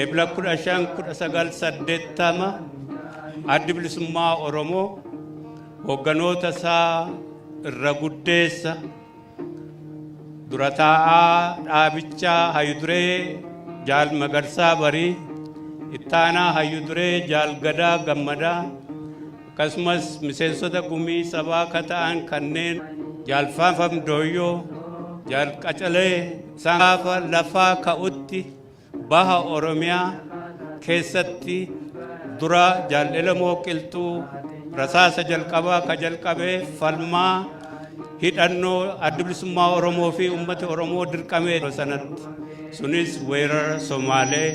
Eebla 15-1980 addi bilisummaa Oromoo hoogganoota isaa irra guddeessa dura taa'aa dhaabichaa hayuduree jaal magarsaa barii ittaanaa hayuduree jaal gadaa gammadaa akkasumas miseensota gumii sabaa ka ta'an kanneen Jaal Faanfam Dooyyoo, Jaal Qacalee isaan gaafa lafaa ka'utti baha Oromiyaa keessatti dura Jaal Elemoo Qilxuu rasaasa jalqabaa ka jalqabe falmaa hidhannoo adda bilisummaa Oromoo fi uummata Oromoo dirqamee yeroo sanatti sunis weerara Somaalee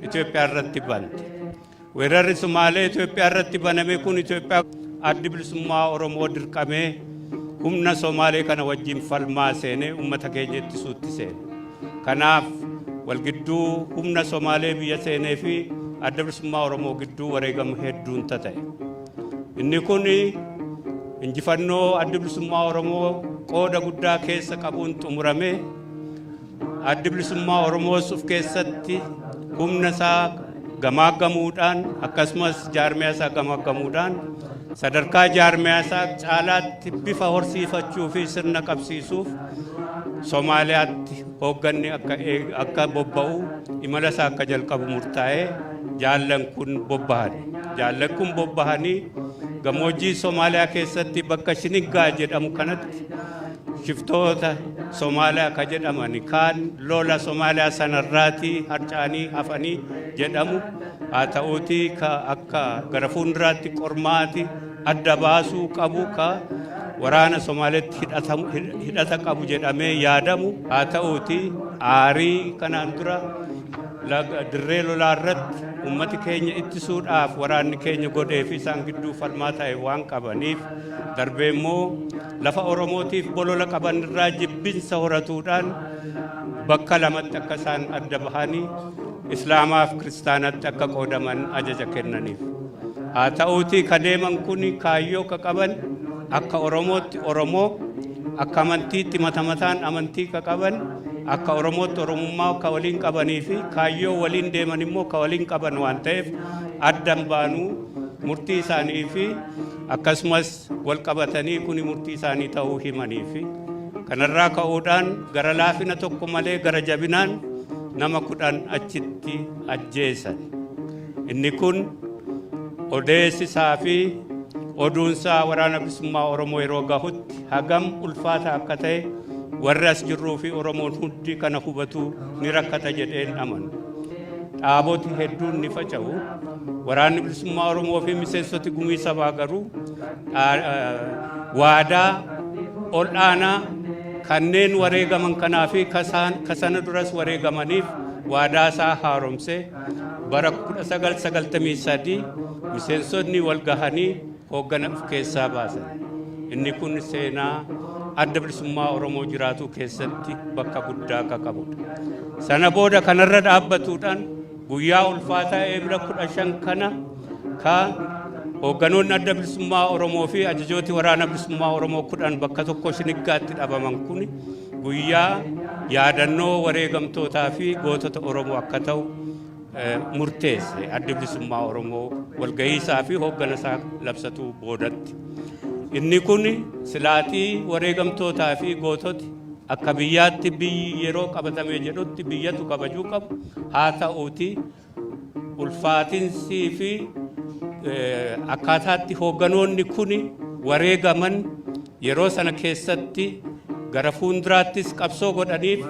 Itoophiyaa irratti bante. Weerarri Sumaalee Itoophiyaa irratti baname kun Itoophiyaa addi bilisummaa Oromoo dirqamee humna Somaalee kana wajjin falmaa seenee uummata keenya ittisuutti seene. Kanaaf walgidduu humna Somaalee biyya seenee fi adda bilisummaa Oromoo gidduu wareegama hedduun ta'e. Inni kun injifannoo adda bilisummaa Oromoo qooda guddaa keessa qabuun xumurame. Addi Bilisummaa Oromoos of keessatti humna isaa gamaaggamuudhaan akkasumas jaarmiyaa isaa gamaaggamuudhaan sadarkaa jaarmiyaa isaa caalaatti bifa horsiifachuu fi sirna qabsiisuuf Somaaliyaatti hoogganni akka ee- akka bobba'u imala isaa akka jalqabu murtaa'ee jaallan kun bobbahan. Jaallan kun bobbahanii gammoojjii Somaaliyaa keessatti bakka Shiniggaa jedhamu kanatti shiftoota Somaaliyaa ka jedhaman kaan lola Somaaliyaa sanarraati harcaanii hafanii jedhamu haa ta'uutii ka akka gara fuulduraatti qormaati adda baasuu qabu ka waraana Somaaliyaatti hidhatamu- hid- hidhata qabu jedhamee yaadamu haa ta'uutii aarii kanaan dura laga- dirree lolaa irratti uummati keenya ittisuudhaaf waraanni keenya godhee fi isaan gidduu falmaa ta'e waan qabaniif darbee immoo lafa Oromootiif bolola qaban irraa jibbinsa horatuudhaan bakka lamatti akka isaan adda bahanii Islaamaaf Kiristaanatti akka qoodaman ajaja kennaniif. Haa ta'uutii ka deeman kun kaayyoo ka qaban akka Oromootti Oromoo akka amantiitti mata mataan amantii ka qaban akka Oromootti Oromummaa ka waliin qabanii fi kaayyoo waliin deeman immoo ka waliin qaban waan ta'eef addan baanuu murtii isaanii fi akkasumas wal qabatanii kuni murtii isaanii ta'uu himanii fi kanarraa ka'uudhaan gara laafina tokko malee gara jabinaan nama kudhan achitti ajjeesan. Inni kun odeessisaa fi oduunsaa waraana bilisummaa Oromoo yeroo gahutti hagam ulfaata akka ta'e warri as jirruu fi Oromoon hundi kana hubatu ni rakkata jedheen amanu. Dhaaboti hedduun ni faca'u. Waraanni Bilisummaa Oromoo fi miseensoti gumii sabaa garuu waadaa ol'aanaa kanneen wareegaman kanaa fi kasana duras wareegamaniif waadaa isaa haaromsee bara 1993 miseensotni wal gahanii hooggana of keessaa baasa. Inni kun seenaa adda bilisummaa Oromoo jiraatuu keessatti bakka guddaa akka qabudha. Sana booda kanarra dhaabbatuudhaan guyyaa ulfaataa eebila kudha shan kana ka hoogganoonni adda bilisummaa Oromoo fi ajajooti waraana bilisummaa Oromoo kudhan bakka tokko shiniggaatti dhabaman kun guyyaa yaadannoo wareegamtootaa fi gootota Oromoo akka ta'u murteesse adda bilisummaa Oromoo walgahii isaa fi hooggana isaa labsatuu boodatti. Inni kun silaatii wareegamtootaa fi goototi akka biyyaatti biyyi yeroo qabatamee jedhutti biyyatu kabajuu qabu haa ta'uuti ulfaatinsii fi akkaataatti hoogganoonni kun wareegaman Yeroo sana keessatti gara fuunduraattis qabsoo godhaniif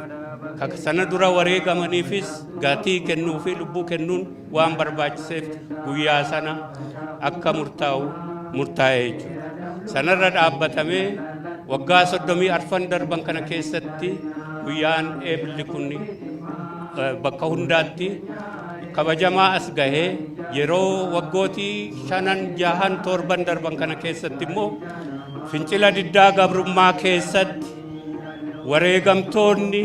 kaka sana dura wareegamaniifis gatii kennuu fi lubbuu kennuun waan barbaachiseef guyyaa sana akka murtaa'u murtaa'ee jechuudha. Sanarra dhaabbatamee waggaa soddomii arfan darban kana keessatti guyyaan eebilli kun bakka hundaatti kabajamaa as gahee yeroo waggootii shanan jahan torban darban kana keessatti immoo Fincila diddaa gabrummaa keessatti wareegamtoonni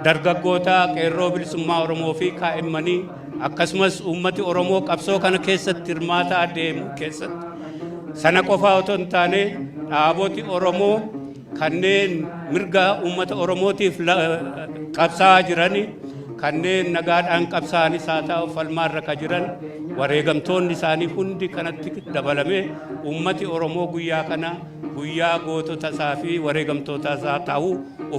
dargaggoota qeerroo bilisummaa Oromoo fi kaa'immanii akkasumas uummati Oromoo qabsoo kana keessatti hirmaataa deemu keessatti sana qofaa otoo hin taane dhaaboti Oromoo kanneen mirga uummata Oromootiif qabsaa'aa jiran, kanneen nagaadhaan qabsaa'anis haa ta'u falmaarra ka jiran wareegamtoonni isaanii hundi kanatti dabalame uummati Oromoo guyyaa kana guyyaa gootota isaa fi wareegamtoota isaa ta'u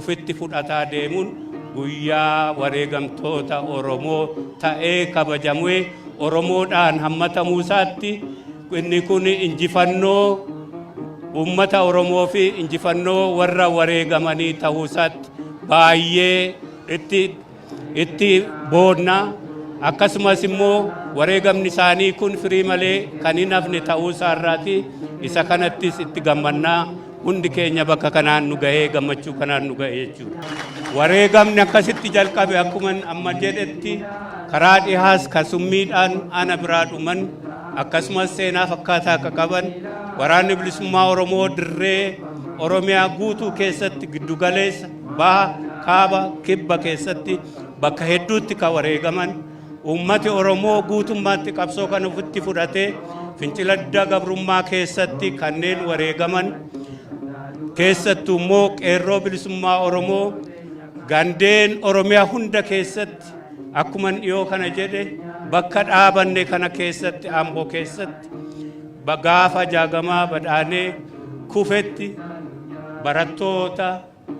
ofitti fudhataa deemuun guyyaa wareegamtoota Oromoo ta'ee kabajamee Oromoodhaan hammatamuu isaatti Inni kun injifannoo uummata Oromoo fi injifannoo warra wareegamanii ta'uu isaatti baay'ee itti itti boonna. Akkasumas immoo wareegamni isaanii kun firii malee kan hin hafne ta'uu isaa irraati isa kanattis itti gammannaa. Hundi keenya bakka kanaan nu gahee gammachuu kanaan nu gahe jechuudha. Wareegamni akkasitti jalqabe akkuman amma jedhetti karaa dhihaas kan summiidhaan ana biraa dhuman akkasumas seenaa fakkaataa akka qaban waraanni bilisummaa Oromoo dirree Oromiyaa guutuu keessatti giddugaleessa baha kaaba kibba keessatti bakka hedduutti kan wareegaman Uummati Oromoo guutummaatti qabsoo kana ofitti fudhatee fincila diddaa gabrummaa keessatti kanneen wareegaman keessattuu immoo qeerroo bilisummaa Oromoo gandeen Oromiyaa hunda keessatti akkuman dhiyoo kana jedhe bakka dhaabanne kana keessatti Amboo keessatti ba- gaafa jaagamaa badhaanee kufetti barattoota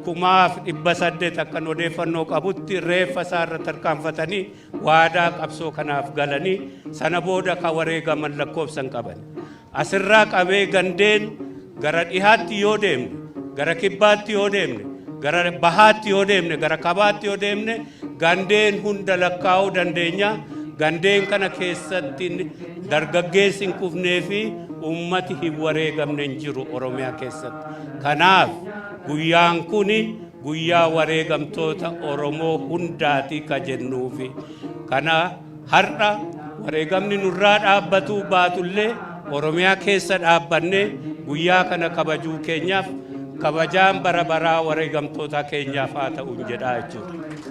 kumaaf dhibba saddeet akkan odeeffannoo qabutti reeffa isaa irra tarkaanfatanii waadaa qabsoo kanaaf galanii sana booda ka wareegaman lakkoofsan qaban. Asirraa qabee gandeen gara dhihaatti yoo deemne, gara kibbaatti yoo deemne, gara bahaatti yoo deemne, gara kabaatti yoo deemne Gandeen hunda lakkaa'uu dandeenya. Gandeen kana keessatti dargaggeessi hin kufnee fi uummati hin wareegamne hin jiru Oromiyaa keessatti. Kanaaf guyyaan kun guyyaa wareegamtoota Oromoo hundaati ka jennuufi. Kana har'a wareegamni nurraa dhaabbatuu baatullee Oromiyaa keessa dhaabbannee guyyaa kana kabajuu keenyaaf kabajaan bara baraa wareegamtoota keenyaaf haa ta'u jedhaa jechuudha.